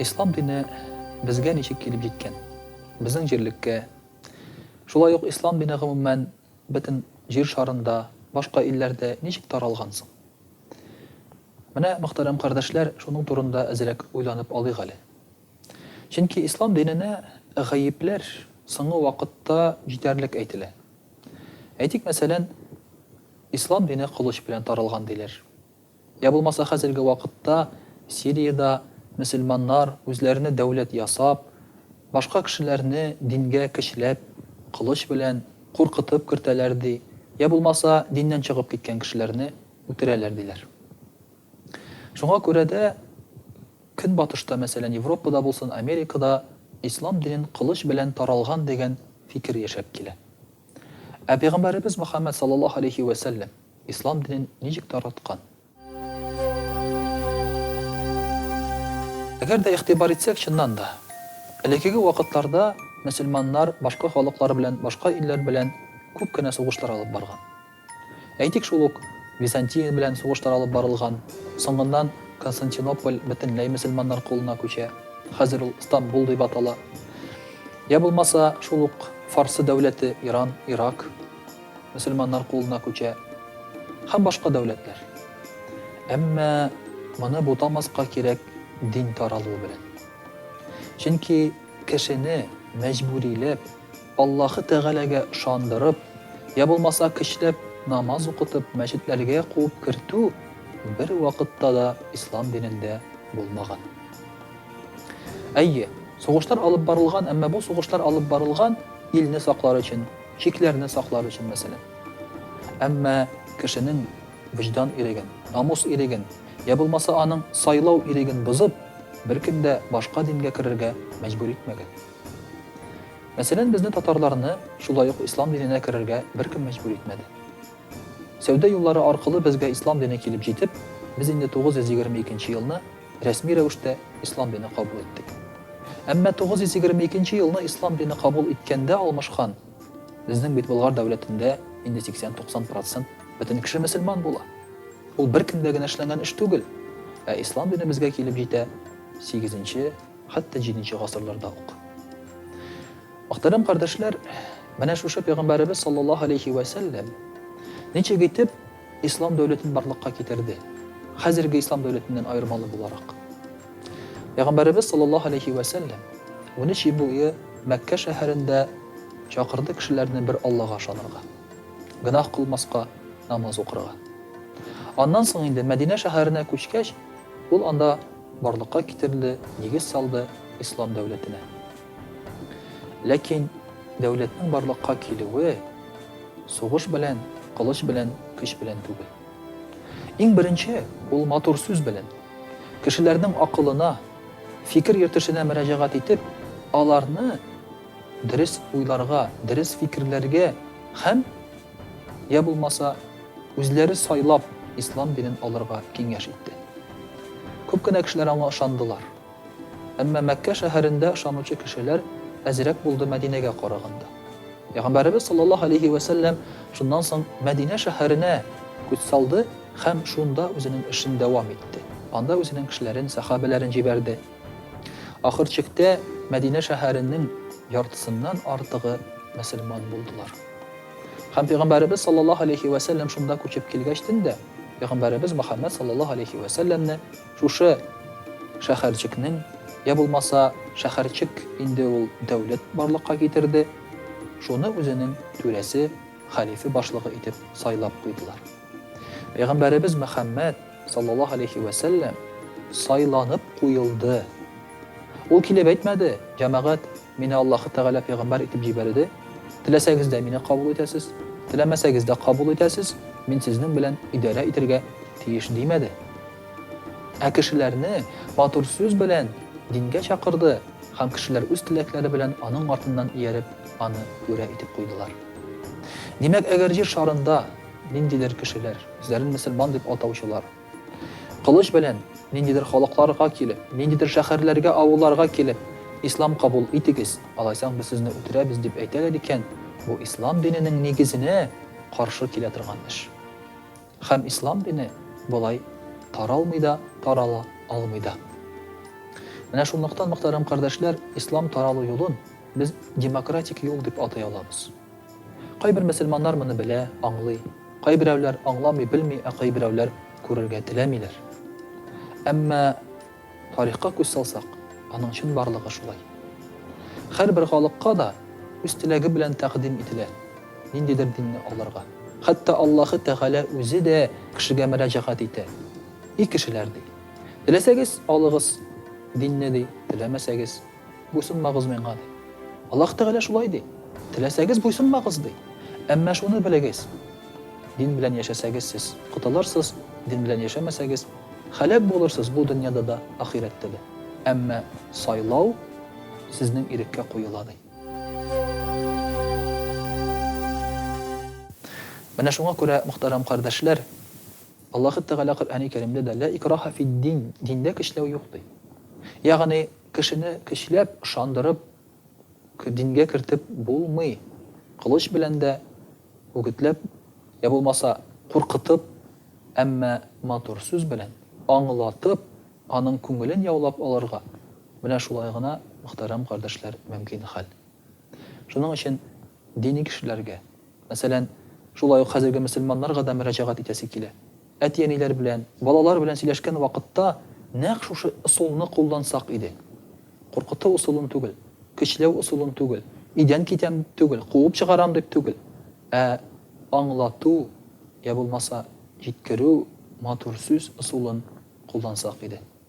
Ислам дине безгә ничек килеп җиткән? Безнең җирлеккә, шулай ук ислам дине гомумән бөтен җир шарында, башка илләрдә ничек таралган соң? Менә, мөхтәрәм кардәшләр, шуның турында әзрәк уйланып алыйк әле. Чөнки ислам диненә гаепләр соңгы вакытта җитәрлек әйтелә. Әйтик, мәсәлән, ислам дине кылыч белән таралган диләр. Йә булмаса хәзерге вакытта Сириядә мөселманнар үзләренә дәүләт ясап, башка кешеләрне дингә көчләп, кылыч белән, куркытып кертәләр ди, йә булмаса диннән чыгып киткән кешеләрне үтерәләр диләр. Шуңа күрә дә Көнбатышта, мәсәлән, Европада булсын, Америкада ислам динен кылыч белән таралган дигән фикер яшәп килә. Ә пәйгамбәребез Мөхәммәд саллаллаһу алейһи вә сәлләм ислам динен ничек тараткан? Әгәр дә игътибар итсәк, чыннан да, элеккеге вакытларда мөселманнар башка халыклар белән, башка илләр белән күп кенә сугышлар алып барган. Әйтик шул ук, Византия белән сугыштар алып барылган, соңыннан Константинополь бөтенләй мөселманнар кулына күчә, хәзер ул Стамбул дип атала. Йә булмаса, шул ук Фарсы дәүләте, Иран, Ирак, мөселманнар кулына күчә. Һәм башка дәүләтләр. Әмма моны бутамаска кирәк дин таралуы белән. Чөнки кешене мәҗбүриләп Аллаһы Тәгаләгә ышандырып, йә булмаса көчләп намаз укытып мәчетләргә куып кертү бер вакытта да ислам динендә булмаган. Әйе, сугыштар алып барылган, әмма бу сугыштар алып барылган илне саклар өчен, чикләрне саклар өчен, мәсәлән. Әмма кешенең вөҗдан иреген, намус иреген, йә булмаса аның сайлау иреген бозып, беркем дә башка дингә керергә мәҗбүр итмәгән. Мәсәлән, безне татарларны шулай ук ислам диненә керергә беркем мәҗбүр итмәде. Сәүдә юллары аркылы безгә ислам дине килеп җитеп, без инде 922 нче елны рәсми рәвештә ислам дине кабул иттек. Әмма 922 нче елны ислам дине кабул иткәндә алмашкан, безнең бит Болгар дәүләтендә инде 80-90 процент бөтен кеше мөселман була. Ул беркемгә генә эшләнгән эш түгел. Ә ислам дине безгә килеп җитә сигезенче, Хәтта җиденче гасырларда ук. Мөхтәрәм кардәшләр, менә шушы пәйгамбәребез саллаллаһу алейһи вә сәлләм ничек итеп ислам дәүләтен барлыкка китерде? Хәзерге ислам дәүләтеннән аермалы буларак. Пәйгамбәребез саллаллаһу алейһи вә сәлләм 13 ел буе Мәккә шәһәрендә чакырды кешеләрне бер Аллага ышанырга, гөнаһ кылмаска, намаз укырга. Аннан соң инде Мәдинә шәһәренә күчкәч, ул анда Барлыкка китерде, нигез салды ислам дәүләтенә. Ләкин дәүләтнең барлыкка килүе сугыш белән, кылыч белән, көч белән түгел. Иң беренче ул матур сүз белән. Кешеләрнең акылына, фикер йөртешенә мөрәҗәгать итеп, аларны дөрес уйларга, дөрес фикерләргә һәм я булмаса үзләре сайлап ислам динен алырга киңәш итте. Күп кенә кешеләр аңа ышандылар. Әмма Мәккә шәһәрендә ышанучы кешеләр әзрәк булды Мәдинәгә караганда. Пәйгамбәребез саллаллаһу алейхи вә сәлләм шуннан соң Мәдинә шәһәренә күз салды һәм шунда үзенең эшен дәвам итте. Анда үзенең кешеләрен, сәхабәләрен җибәрде. Ахыр чиктә Мәдинә шәһәренең яртысыннан артыгы мөселман булдылар. Һәм пәйгамбәребез саллаллаһу алейһи вә сәлләм шунда күчеп килгәч төн дә пәйгамбәребез Мөхәммәд саллаллаһу алейһи вә сәлләмне шушы шәһәрчекнең, йә булмаса, шәһәрчек инде ул дәүләт барлыкка китерде, шуны үзенең түрәсе, хәлифе башлыгы итеп сайлап куйдылар. Пәйгамбәребез Мөхәммәд саллаллаһу алейһи вә сәлләм сайланып куелды. Ул килеп әйтмәде, Җәмәгать, Мине Аллаһы Тәгалә пәйгамбәр итеп җибәрде, теләсәгез дә мине кабул итәсез, теләмәсәгез дә кабул итәсез, мин сезнең белән идарә итәргә тиеш, димәде. Ә кешеләрне матур сүз белән дингә чакырды һәм кешеләр үз теләкләре белән аның артыннан ияреп, аны түрә итеп куйдылар. Димәк, әгәр җир шарында ниндидер кешеләр, үзләрен мөселман дип атаучылар, Кылыч белән, ниндидер халыкларга килеп, ниндидер шәхәрләргә, авылларга килеп, Ислам кабул итегез, алайсаң без сезне үтерәбез, дип әйтәләр икән, бу Ислам диненең нигезенә каршы килә торган эш. Хәм Ислам дине болай таралмый да, тарала алмый да. Менә шунлыктан, мөхтәрәм кардәшләр, Ислам таралу юлын без демократик юл дип атый алабыз. Кайбер мөселманнар моны белә, аңлый. Кайберәүләр аңламый, белми, ә кайберәүләр күрергә теләмиләр. Әмма тарихка күз салсак, аның чынбарлыгы шулай. Һәрбер халыкка да үз теләге белән тәкъдим ителә ниндидер динне алырга. Хәтта Аллаһы Тәгалә үзе дә кешегә мөрәҗәгать итә, И кешеләр, ди, теләсәгез, алыгыз динне, ди, теләмәсәгез, Буйсынмагыз миңа, ди. Аллаһ Тәгалә шулай ди. Теләсәгез буйсынмагыз, ди. Әмма шуны белегез, дин белән яшәсәгез сез, котылырсыз, дин белән яшәмәсәгез, һәлак булырсыз бу дөньяда да, ахирәттә дә. Әмма сайлау сезнең иреккә куела, ди. Менә шуңа күрә, мөхтәрәм кардәшләр, Аллаһ Тәгалә Коръәни Кәримдә дә, Лә икраһа фид-дин, диндә көчләү юк, ди. Ягъни, Кешене көчләп, ышандырып, дингә кертеп булмый. Кылыч белән дә, үгетләп, йә булмаса, куркытып, әмма матур сүз белән, аңлатып, аның күңелен яулап алырга менә шулай гына, мөхтәрәм кардәшләр, мөмкин хәл. Шуның өчен дини кешеләргә, Мәсәлән, шулай ук хәзерге мөселманнарга да мөрәҗәгать итәсе килә. Әти-әниләр белән, балалар белән сөйләшкән вакытта нәкъ шушы ысулны куллансак иде. Куркыту ысулын түгел, көчләү ысулын түгел, өйдән китәм дип түгел, куып чыгарам дип түгел, ә аңлату, йә булмаса, җиткерү, матур сүз ысулын куллансак иде.